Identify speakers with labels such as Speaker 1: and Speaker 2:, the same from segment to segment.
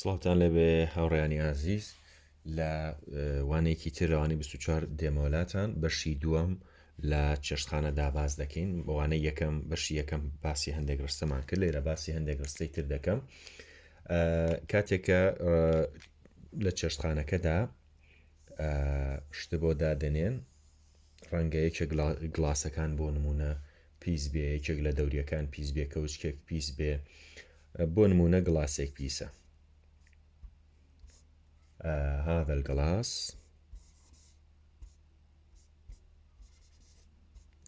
Speaker 1: سڵاوتان لەبێ هاوڕیانی ئازیز لە وانێکی تێلوانی 24 دێمەولاتان بەشی دووەم لە چێشتخانە داباز دەکەین بەوانە یەکەم بەشی یەکەم باسی هەندێک ڕستەمان کرد لێرە باسی هەندێک ڕستەی تر دەکەم کاتێکە لە چێشتخانەکەدا شتە بۆ دادەنێن ڕەنگە یەکێک گلاسەکان بۆ نمونە پیس بێ یەکێک لە دەوریەکان پیس بێ کەوچکێک پیس بێ بۆ نمونە گڵاسێک پیسە هذا القلاص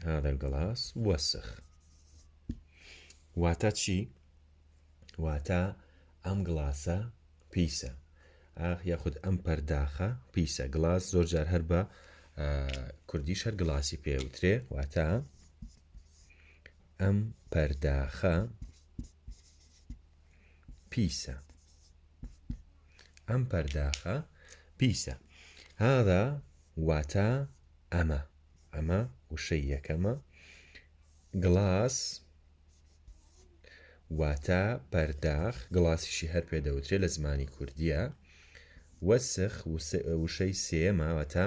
Speaker 1: هذا القلاص وسخ واتا چی واتا ئەم گڵاسە پیسە ئاخ یاخود ئەم پەرداخە پیسە گڵاس زۆر جار هەر بە کوردی شەر گڵاسی پێوترێ واتا ئەم پەرداخە پیسە ئەم پەرداخە پیسە هادا واتە ئەمە ئەمە وشەی یەکەمە گڵاس واتە پەرداخ گڵاسیشی هەر پێ دەوترێت لە زمانی کوردیە وەسخ وشەی سێماوەتە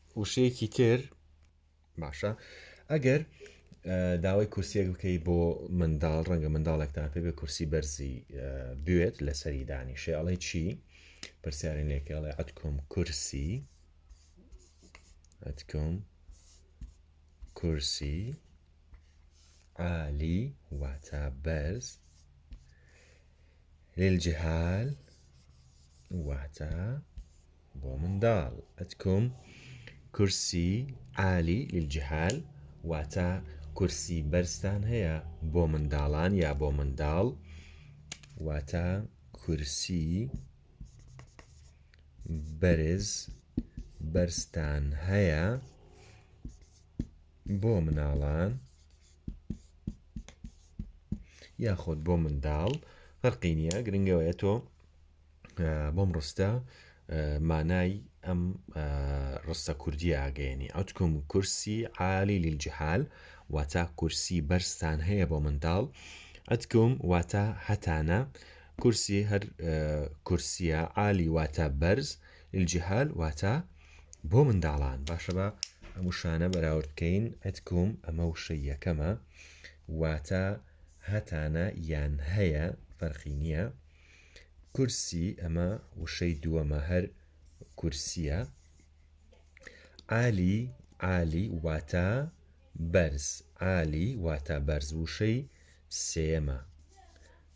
Speaker 1: وشەیەکی تر باشە ئەگەر داوای کورسیەک بکەی بۆ منداڵ ڕەنگە منداڵێکتان پێ بێ کورسی بەرزی بوێت لەسەری دانی شێڵی چی پرسیارین لێکەڵێ ئەتکۆم کورسی ئەتکۆم کورسی عالی واتا بەرز للجهال واتا بۆ منداڵ ئەتکوم کورسی عالی للجهال واتە کورسی بەرزتان هەیە بۆ منداڵان یا بۆ منداڵ واتە کورسی بەرز بەرزتان هەیە بۆ مناڵان یاخۆت بۆ منداڵ فەرقی نییە گرنگەوەیە تۆ بۆم ڕستە مانای ئەم ڕستە کوردی ئاگەێنی ئەتکم کورسی عالی لیلجهال واتا کورسی بەرزتان هەیە بۆ منداڵ ئەتکم واتا هەتانە کورسی هەر کورسیە عالی واتا بەرز الجهال واتا بۆ منداڵان باشە بە ئەم وشانە بەراورد بکەین ئەتکم ئەمە وشە یەکەمە واتا هەتانە یان هەیە فەرخی نییە کورسی ئەمە وشەی دووەمە هەر کورسیە عالی عالی واتە بەرز عالی واتە بەرز وشەی سێمە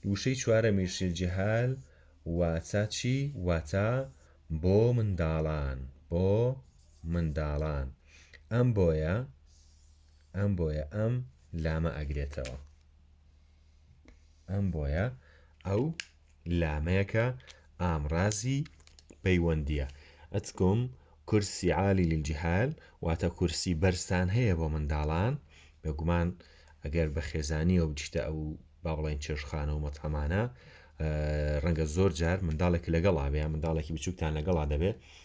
Speaker 1: وشەی چوارە میشل جهال واتە چی واتە بۆ منداڵان بۆ منداڵان ئەم بۆیە ئەم بۆیە ئەم لامە ئەگرێتەوە ئەم بۆیە ئەو لامەیەکە ئامرازی پەیوەندیە ئەتکم کورسی عالی للجهال واتە کورسی بەرزان هەیە بۆ منداڵان بەگومان ئەگەر بە خێزانیەوە بچتە ئەو با بڵێن چێشخانە و مەتەمانە ڕەنگە زۆر جار منداڵێک لەگەڵا بێ منداڵێکی بچووکتان لەگەڵا دەبێت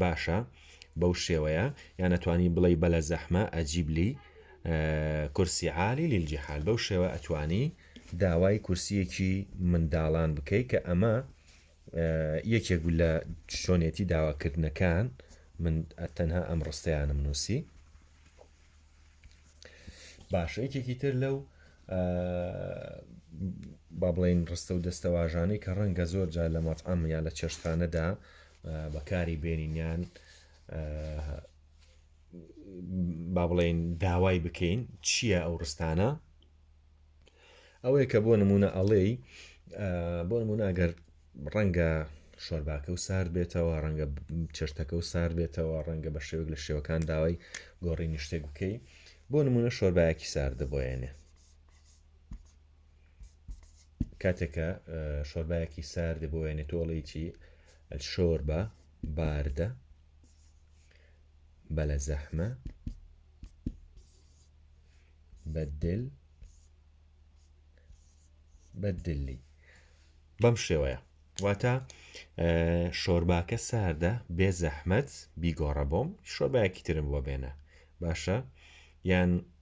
Speaker 1: باشە بەو شێوەیە یان ئەتوانی بڵێی بەلە زەحمە ئەجیب لی کورسی عالی لیلجیحال بەو شێوە ئەتوانی داوای کورسیەکی منداڵان بکەی کە ئەمە یەکێک لە شۆنێتی داواکردنەکان من تەنها ئەم ڕستەیانم نووسی باشە یەکێکی تر لەو با بڵین ڕستە و دەستەواژانەی کە ڕەنگە زۆر جار لە مەتعام یا لە چێشتخانەدا بەکاری بێنین یان با بڵێن داوای بکەین چییە ئەو ڕستانە ئەوەیە کە بۆ نمونە ئەڵێی بۆ نمونە ئەگەر ڕەنگە شۆرباکە و سارد بێتەوە ڕەنگە چێشتەکە و سار بێتەوە ڕەنگە بە شێوک لە شێوەکان داوای گۆڕی نیشتێک بکەی بۆ نمونە شۆربایەکی ساردە بۆیانێ کاتێکە شۆربایەکی سارد بۆێنێ تۆڵیی شۆربە باردە بەلە زەحمە بەدل بەدلی بەم شێوەیە واتە شۆرباکە ساردە بێ زەحمەت بیگۆڕە بۆم شۆربایەکی ترم بۆ بێنە باشە یان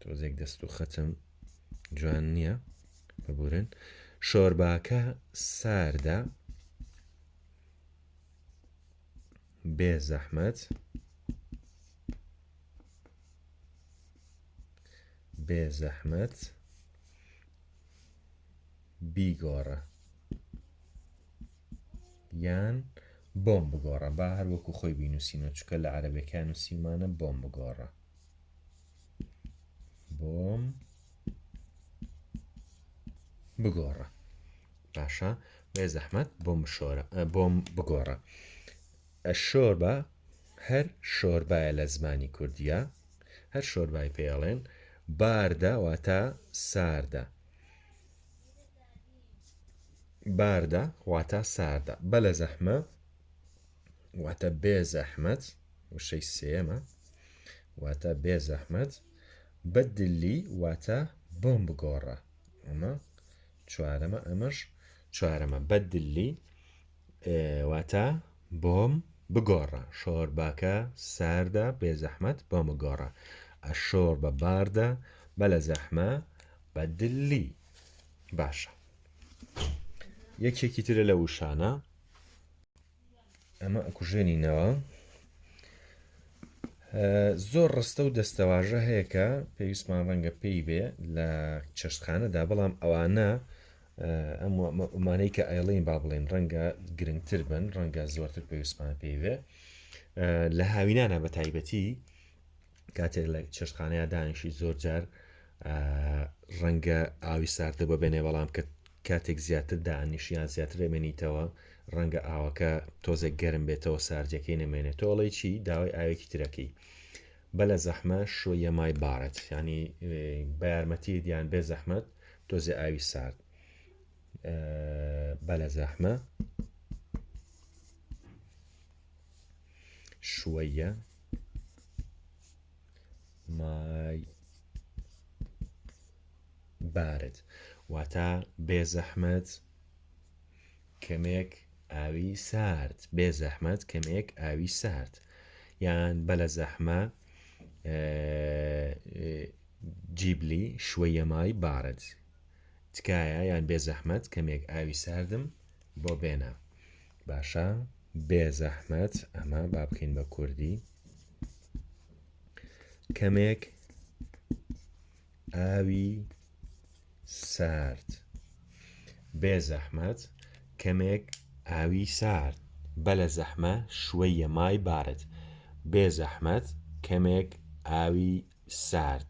Speaker 1: تۆزێک دەست و خەچم جوان نییە ببورن شۆرباکە ساردە بێ زەحمەت بێ زەحمەت بیگۆڕە یان بۆم بگۆڕە با هەروەکو خۆی بینوسینە چکە لە عربەکان و سیمانە بۆم بگۆڕە بۆم بگۆڕە باشە بێ زەحمەت بۆم شۆرە بۆم بگۆڕە شۆر بە هەر شۆربایە لە زمانی کوردیە هەر شۆربای پێڵێن باردە واتە ساردە باردە واتە ساردە بە لە زەحمە واتە بێ زەحمەت وشەی سێمە واتە بێ زەحمەت بەدلی واتە بۆم بگۆڕە ئەمە چوارەمە ئەمەش چوارەمە بەدلی واتە بۆم بگۆڕە شۆرباکە ساردە بێ زەحمەت بۆم بگۆڕە ئەشۆڕ بە باردە بە لە زەحمە بە دلی باشە یەکێکی ترە لە وشانە ئەمە ئەکوژێنینەوە زۆر ڕستە و دەستەواژە هەیە کە پێویستمان ڕەنگە پێی بێ لە چێشتخانەدا بەڵام ئەوانە ئەمانەی کە ئایڵین با بڵێن ڕەنگە گرنگتر بن ڕەنگە زۆرتر پێویستمان پێی بێ لە هاوینانە بە تایبەتی کاتێک لە چێشتخانەیە دانیشی زۆر جار ڕەنگە ئاوی ساردە بە بێنێ بەڵام کە کاتێک زیاتر دانیشیان زیاتر دەمێنیتەوە ڕەنگە ئاوەکە تۆزێک گەرم بێتەوە ساردەکەی نەمێنێت تۆڵی چی داوای ئاوێکی ترەکەی بە لە زەحمە شویە مای بارەت ینی بە یارمەتی دیان بێ زەحمەت تۆزێ ئاوی سارد بە لە زەحمە شوەیە مای بارد واتە بێزەحمەت کەمێک ئاوی سارد بێ زەحمەت کەمێک ئاوی سارد یان بە لە زەحمە جیبلی شوەیەمای بارد تکایە یان بێ زەحمەت کەمێک ئاوی ساردم بۆ بێنە باشە بێزەحمەت ئەمە با بکەین بە کوردی کەمێک ئاوی سارد بێزەحمەت کەمێک ئاوی سارد بە لە زەحمە شوەیە مای بارد بێزەحمەت کەمێک ئاوی سارد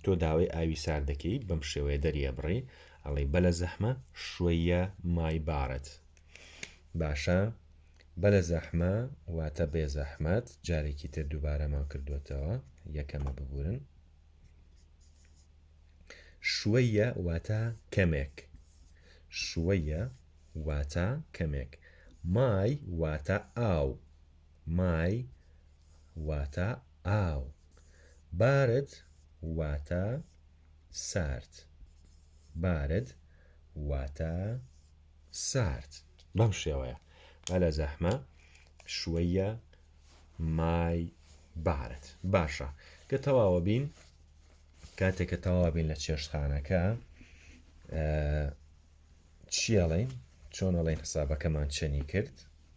Speaker 1: تۆ داوای ئاوی سارد دەکەیت بەم شێوەیە دەری ئەبڕی ئەڵی بەلە زەحمە شوەیە مای بارد باشە بەلە زەحمە واتە بێ زەحمەت جارێکی تر دووبارەمان کردوێتەوە یەکەمە ببورن شوەیە واتە کەمێک شوەیە واتە کەمێک مای واتە ئاو مای واتە ئاو. بارد واتە سارد. بارد واتە سارد. بەم شێوەیە. بەلە زەحمە شوەیە مای بارد. باشە کە تەواوە بین کاتێک کە تەواوە بین لە چێشتخانەکە چیەڵین چۆنەڵین حسابەکەمان چەنی کرد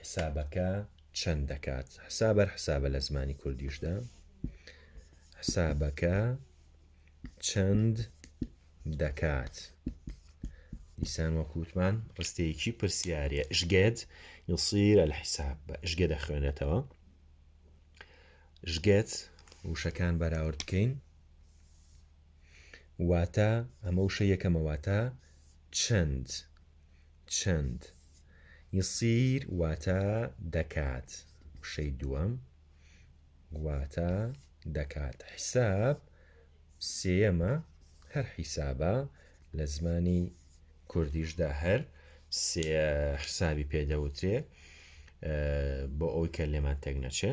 Speaker 1: حسابەکە چەند دەکات حسابەر حسابە لە زمانی کوردیشدا حسابەکە چەند دەکات دیسان وەکووتمان ڕستەیەکی پرسیارە ژگێت یسیرە لە حیساب بە ژگە دەخوێنێتەوە ژگێت وشەکان بەراورد بکەین واتە ئەمە وشە یەکەمەواتە چەند چەند یصیر واتە دەکات وشەی دووەم واتە دەکات حیساب سێەمە هەر حیسابە لە زمانی کوردیشدا هەر سێ حسابی پێدەوترێ بۆ ئەوی کە لێمان تێک نەچێ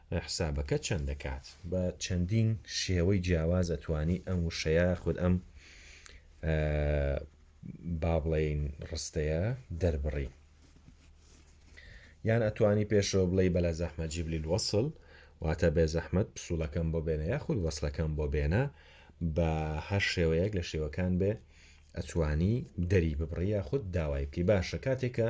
Speaker 1: حسابەکە چەند دەکات؟ بە چەندین شێوەی جیاواز ئەتوانی ئەم وشەیە یاخود ئەم با بڵێین ڕستەیە دەربڕی یان ئەتوانی پێشەوە بڵێ بەلا زەحمە جیبلی الوەسل واتە بێ زەحمەت پسوولەکەم بۆ بێنە یاخود وەسلەکەم بۆ بێنە بە هەر شێوەیەک لە شێوەکان بێ ئەتوانی دەری ببڕی یاخود داوای بکەی باشە کاتێکە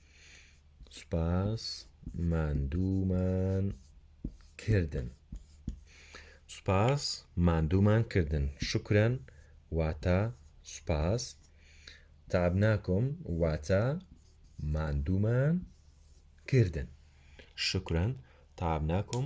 Speaker 1: سوپاس ماندوومان کردن سوپاس ماندوومان کردن شکرن واتە سوپاس تابناکۆم واتە ماندوومان کردن شکرن تابناکۆم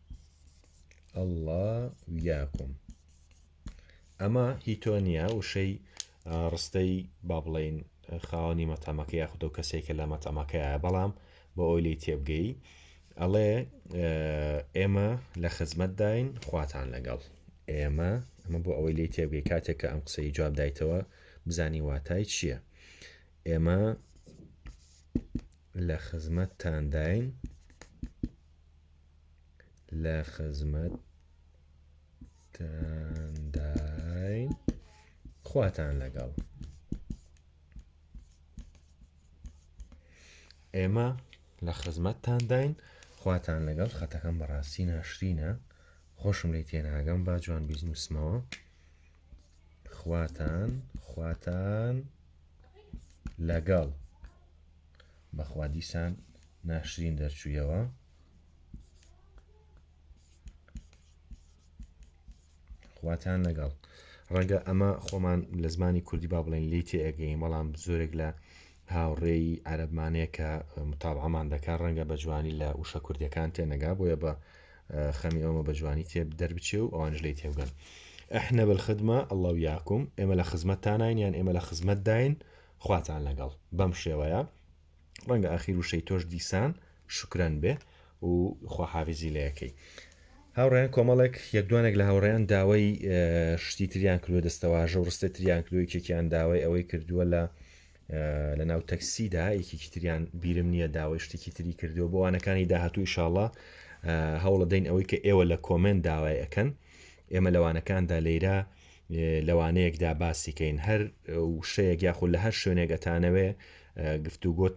Speaker 1: ئەڵا ویاکم ئەمە هی تۆ نییە وشەی ڕستەی با بڵین خاوەنی مەتەمەکە یاخود و کەسێکە لە مەتەمەکەیە بەڵام بۆ ئەوی لی تێبگەی ئەڵێ ئێمە لە خزمەتداین خواتان لەگەڵ ئێمە ئەمە بۆ ئەوەی لی تێبگەی کاتێک کە ئەم قسەی جواب دایتەوە بزانی واتای چییە ئێمە لە خزمەتتانداین لە خزمەتتانداین خواتان لەگەڵ ئێمە لە خزمەتتانداین خواتان لەگەڵ خەتەکەم بەڕاستی ناشرینە خۆشم لی تێناگەم با جوان بیزنوسمەوە خواتان خواتان لەگەڵ بەخوا دیسان ناشرین دەرچوویەوە خواتان لەگەڵ ڕەنگە ئەمە خۆمان لە زمانی کوردی با بڵێن لی تێگەین بەڵام زۆرێک لە هاوڕێی عەربمانەیە کە متابعمان دەکات ڕەنگە بە جوانی لە وشە کوردەکان تێنەگا بۆیە بە خەمی ئەومە بە جوانی تێب دەربچێ و ئەوانش لی تێبگەن احنا بالخدمە الله ویاکم ئێمە لە خزمەتتانین یان ئێمە لە خزمەتداین خواتان لەگەڵ بەم شێوەیە ڕەنگە ئاخیر وشەی تۆش دیسان شکرەن بێ و خواحافزی لەکەی هاوڕێن کۆمەڵێک یەکدوانێک لە هاوڕێیان داوای شتی تریان کردوە دەستەواژە و ڕستە تریان کردو یەکێکیان داوای ئەوەی کردووە لە لە ناو تەکسیدا یەکێکی تریان بیرم نییە داوای شتێکی تری کردووە بۆ وانەکانی داهاتوو شاڵە هەوڵە دەین ئەوەی کە ئێوە لە کۆمنت داوای ئەەکەن ئێمە لەوانەکاندا لێرە لەوانەیەکدا باسی کەین هەر وشەیەک یاخود لە هەر شوێنێک ئەتانەوێ گفتوگۆت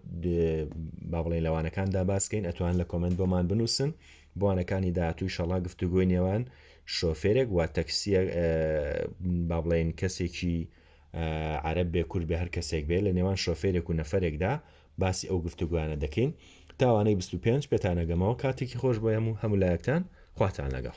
Speaker 1: با بڵێن لەوانەکاندا باسکەین ئەتوان لە کۆمنت بۆمان بنووسن بۆنەکانی داهاتوی شەڵا گفتوگۆی نێوان شۆفێرێک و تەکسیە با بڵێن کەسێکی عرب بێ کورد بێ هەر کەسێک بێ لە نێوان شۆفێرێک و نەفرێکدا باسی ئەو گفتوگویانە دەکەین تاوانەی 25 پێتانەگەمەوە کاتێکی خۆش بۆ هەموو هەمولایەکتان خواتان لەگەڵ